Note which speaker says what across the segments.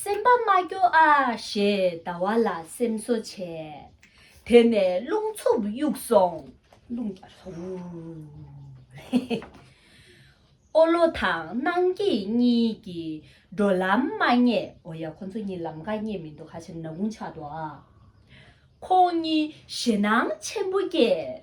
Speaker 1: སེམས་པ་མ་སྐྱོ་ཨ་ཞེས་ཟླ་བ་ལ་སེམས་གསོ་བྱས། དེ་ནས་རླུང་འཚུབ་གཡུག་སོང། རླུང་རྒྱག་སོང། ཨོ་ལོ་དང་སྣང་སྐྱིད་གཉིས་ཀྱིས་འགྲོ་ལམ་མ་རྙེད། འོ་ཡ་ཁོ་ཚོ་གཉིས་ལམ་ཀ་རྙེད་མི་འདུག་ཧ་ཅང་ནག་ཀུང་ཆགས་འདུག་ཨ། ཁོང་གཉིས་ཞེད་སྣང་ཆེན་པོ་སྐྱེས།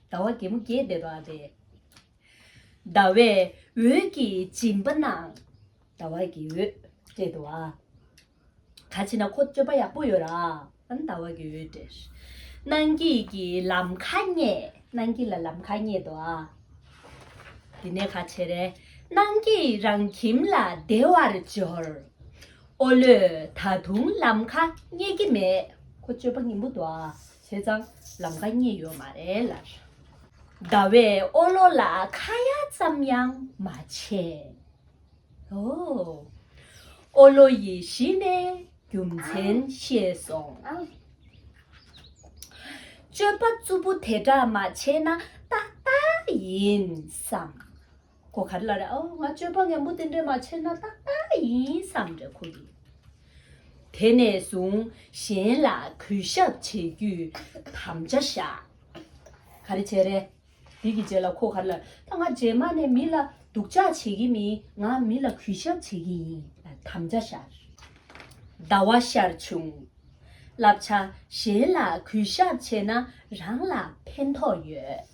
Speaker 1: ཟླ་བ་རྒྱལ་མོ་རྒྱས་པའི་བར་རེད། ཟླ་བའི་འོད་ཀྱིས་སྦྱིན་པ་ན། ཟླ་བ་གི་འོད་སྤྲད་དོ་ཨ། ད་ཕྱིན་ན་ཁོ་སྤྱོད་པ་ཡག་པོ་ཡོད་ར། ཨན་ཟླ་བ་གི་འོད་སྤྲད། གནང་སྐྱིད་ཀྱི་ལམ་ཁ་རྙེད། གནང་སྐྱིད་ལ་ལམ་ཁ་རྙེད་དོ་ཨ། དེ་ནས་ཁ་ཆེ་རེ། གནང་སྐྱིད་རང་ཁྱིམ་ལ་བདེ་བར་འབྱོར། ཨོ་ལོས་ད་དུང་ལམ་ཁ་རྙེད་ཀྱི་མེད། ཁོ་སྤྱོད་པ་ངན་པོ་འདུག་ཨ། བྱས་ཙང་ལམ་ཀ་རྙེད་ཡོད་མ་རེད་ལར། ཟླ་བའི་ཨོ་ལོ་ལ་ཁ་ཡ་ཙམ་ཡང་མ་བྱས། ཨོ། ཨོ་ལོ་ཡིས་གཞི་ནས་རྒྱུ་མཚན་ཤེས་སོང། སྤྱོད་པ་རྩུབ་པོ་དེ་འདྲ་མ་བྱས་ན་ཏག་ཏག་ཡིན་བསམ། ཁོ་ག་ལ་ར་ཨོ་ང་སྤྱོད་པ་ངན་པོ་དེ་འདྲས་མ་བྱས་ན་ཏག་ཏག་ཡིན་བསམ་འདྲ་ཁོ་གིས། དེ་ནས་བཟུང་གཞན་ལ་གུས་ཞབས་བྱེད་རྒྱུའི་དམ་བཅའ་བཞག་ག་རེ་བྱས་རེད། དེ་གི་རྗེས་ལ་ཁོ་ག་ལ་ད་ང་རྗེས་མ་ནས་མི་ལ་སྡུག་ཅག་བྱེད་ཀྱི་མིན་ང་མི་ལ་གུས་ཞབས་བྱེད་ཀྱི་ཡིན་ལ་དམ་བཅའ་བཞག། ཟླ་བ་ཤར་བྱུང། བསླབ་བྱ་གཞན་ལ་གུས་ཞབས་བྱས་ན་རང་ལ་ཕན་ཐོགས་ཡོད།